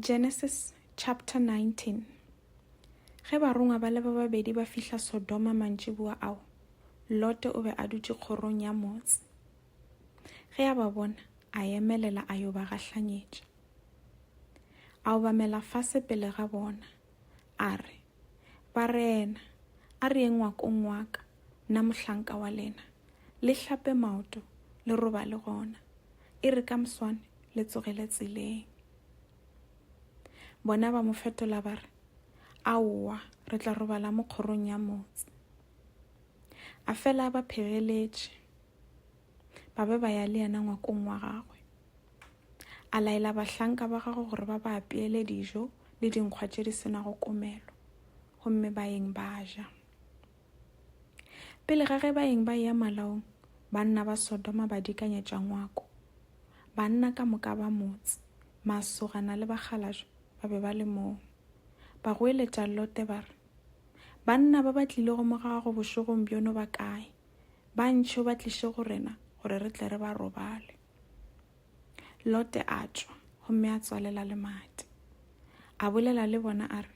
Genesis chapter 19 Ge barongwa ba le ba babedi ba fihla Sodoma mantšiboa ao, Lote o be a dutše kgorong ya motse. Ge a ba bona, a emelela a yo ba gahlanyetša. A obamela fase pele ga bona, a re, Barena, a re yeng ngwakong wa ka, nna mohlanka wa lena, le hlape maoto, le robale gona, e re ka moswane le tsogele tseleng. Bona ba mo fetola ba re, Aowa, re tla robala mo kgorong ya motse. A fela a ba phegeletše. ba be ba ya le yena ngwakong wa gagwe. A laela bahlanka ba gagwe gore ba ba apeele dijo le dinkgwa tše di senago komelo, gomme ba eng ba ja. Pele ga ge ba eng ba eya malaong, banna ba Sodoma ba dikanyetša ngwako. Banna ka moka ba motse, masogana le bakgalajwe ba be ba le moo. Ba goeletša Lote ba re, Banna ba ba tlilego mo gago bošegong bjono ba kae? ba ntšhe o ba tliše go rena gore re tle re ba robale lote a tšwa gomme a tswalela le mate a bolela le bona a re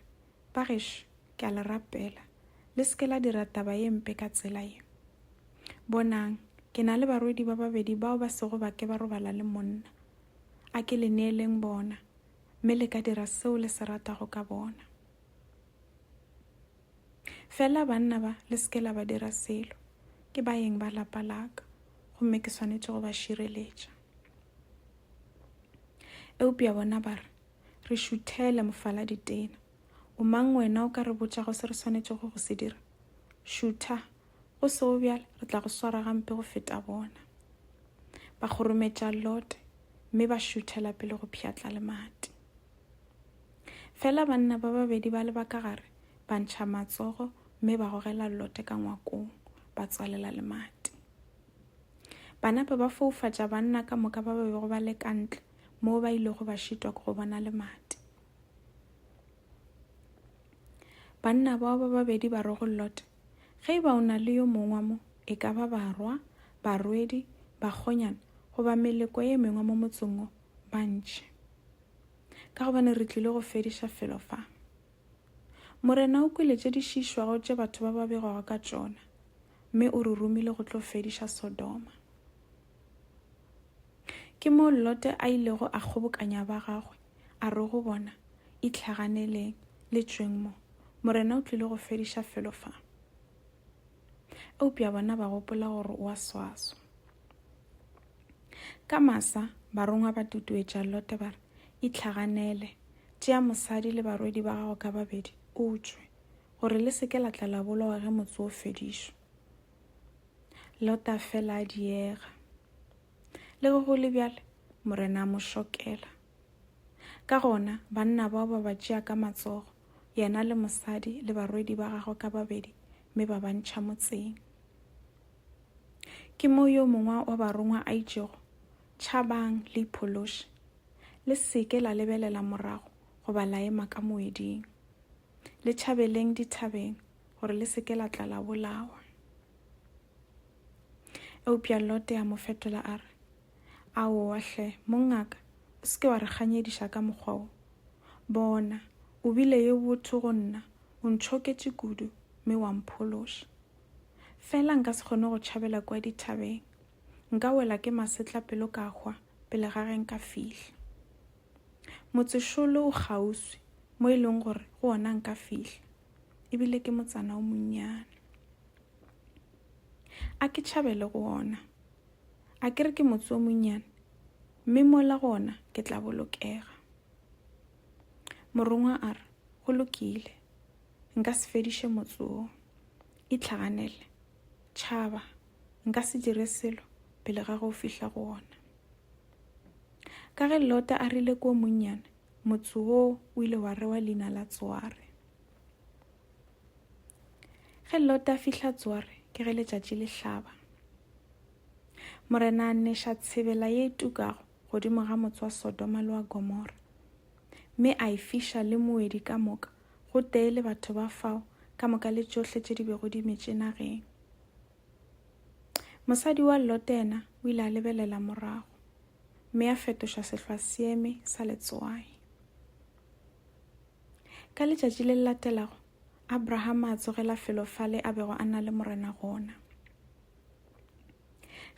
bagešo ke a le rapela le se ke la dira taba ye mpe ka tsela ye bonang ke na le barwedi ba babedi bao ba sego ba ke ba robala le monna a ke le neeleng bona mme le ka dira seo le se ratago ka bona Fela banna ba, le se ke la ba dira selo. Ke baeng ba lapa la ka, gomme ke swanetše go ba šireletša. Eupša bona ba re, Re šuthele, mofaladi tena. O mang wena o ka re botšago se re swanetšego go se dira? Šutha, go sego bjale re tla go swara gampe go feta bona. Ba kgorometša Lote, mme ba šuthela pele go pšhatla lemati. Fela banna ba babedi ba leba ka gare, ba ntšha matsogo mme ba gogela Lote ka ngwakong, ba tswalela lemati. Ba nape ba foufatša banna ka moka ba ba bego ba le ka ntle moo ba ilego ba šitwa ke go bona lemati. Banna bao ba babedi ba re go Lote, Ge e ba o na le yo mongwe mo, e ka ba barwa, barwedi, bakgonyana goba meleko e mengwe mo motseng o, bantši ka gobane re tlile go fediša felo fa. Morena o kwele tše di šišwago tše batho ba ba begwago ka tšona mme o re romile go tlo fediša Sodoma. Ke moo Lote a ilego a kgobokanya ba gagwe a re go bona, Itlhaganeleng, le tšweng mo. Morena o tlile go fediša felo fa. eupša bona ba gopola gore o a swaswa. Ka masa, barongwa ba tutuetša Lote ba re, Itlhaganele, tšea mosadi le barwedi ba gago ka babedi, o tšwe, gore le se ke la tla la bolawa ge motse o fedišwa. Lote a fela a diega. Le ge go le bjale, Morena a mo šokela. Ka gona banna bao ba ba tšea ka matsogo, yena le mosadi le barwedi ba gagwe ka babedi, mme ba ba ntšha motseng. Ke moo yo mongwe wa barongwa a itšego, Tšhabang le iphološe, le se ke la lebelela morago goba la ema ka moeding. Le tšhabeleng dithabeng gore le se ke la tla la bolawa. Eupša Lote a mo fetola a re, Aowa hle, mongaka, o se ke wa re ganyediša ka mokgwa wo. Bona, o bile yo botho go nna, o ntšhoketše kudu, mme wa mphološa. Feela nka se kgone go tšhabela kua dithabeng. Nka wela ke masetla pelo ka hwa pele ga ge nka fihla. Motsešolo o kgauswi, mo e lego gore go wona nka fihla, e bile ke motsana o monnyane. A ke tšhabele go wona. A ke re ke motse o monnyane, mme mola gona ke tla bolokega. Morongwa a re, Go lokile, nka se fediše motse wo. Itlhaganele, tšhaba, nka se dire selo pele ga go fihla go wona. Ka ge Lota a rile ke o monnyane, motse wo o ile wa rewa leina la Tsoare. Ge Lota a fihla Tsore ke ge letšatši le hlaba. Morena a neša tshebela ye e tukago godimo ga motse wa Sodoma le wa Gomora, mme a e fiša le moedi ka moka go tee le batho ba fao ka moka le tšohle tše di bego di metše nageng. Mosadi wa Lote yena o ile a lebelela morago, mme a fetoša sehlwa seeme sa letswai. Ka letšatši le le latelago, Abrahama a tsogela felo fale a bego a na le morena gona.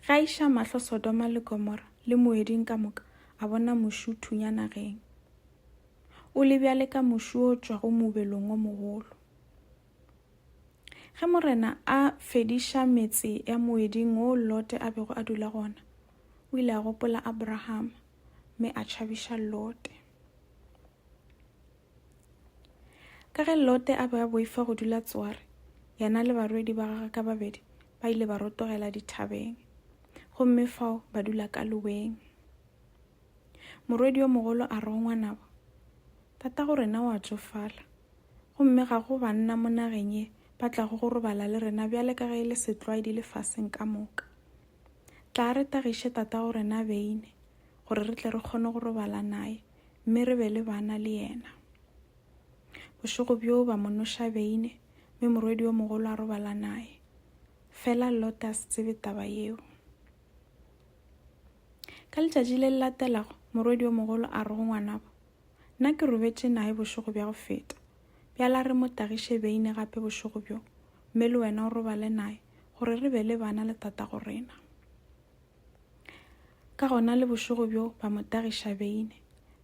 Ge a iša mahlo Sodoma le Gomora le moeding ka moka, a bona mošu thunya nageng. O le bjale ka mošu o tšwago mobelong o mogolo. Ge morena a fediša metse ya moeding o Lote a bego a dula gona, o ile a gopola Abrahama. mme a tšhabiša Lote. Ka ge Lote a be a boifa go dula Tsoare, yena le barwedi ba gagwe ka babedi ba ile ba rotogela dithabeng, gomme fao ba dula ka loweng. Morwedi yo mogolo a re go ngwanabo, Tatago rena o a tsofala, gomme ga go banna mo nageng ye ba tlago go robala le rena bjale ka ge e le setlwaedi lefaseng ka moka. Tla re tagiše tatago rena Veine gore re tle re kgone go robala naye mme re be le bana le yena. Bošego bjoo ba mo noša Veine mme morwedi yo mogolo a robala naye. Fela Lote a se tsebe taba yeo. Ka letšatši le le latelago, morwedi yo mogolo a re go ngwanabo, Nna ke robetše nae bošego bja go feta. Bjale a re mo tagiše beine gape bošego bjo, mme le wena o robale nae, gore re be le bana le tatago rena. Ka gona le bošego bjo ba mo tagiša beine,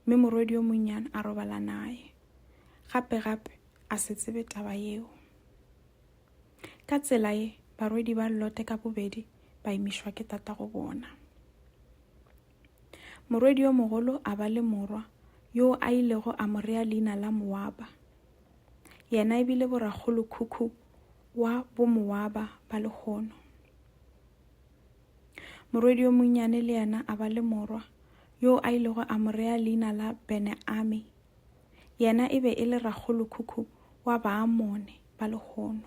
mme morwedi yo monnyane a robala nae. Gape, gape, a se tsebe taba yeo. Ka tsela ye, barwedi ba Lote ka bobedi ba imišwa ke tatago bona. Morwedi yo mogolo a ba le morwa yoo a ilego a mo rea leina la Moaba. Yena e bile borakgolokhukhu wa Bomoaba ba lehono. Morwedi yo monnyane le yena a ba le morwa yoo a ilego a mo rea leina la Beneame. Yena e be e le rakgolokhukhu wa Baamone ba lehono.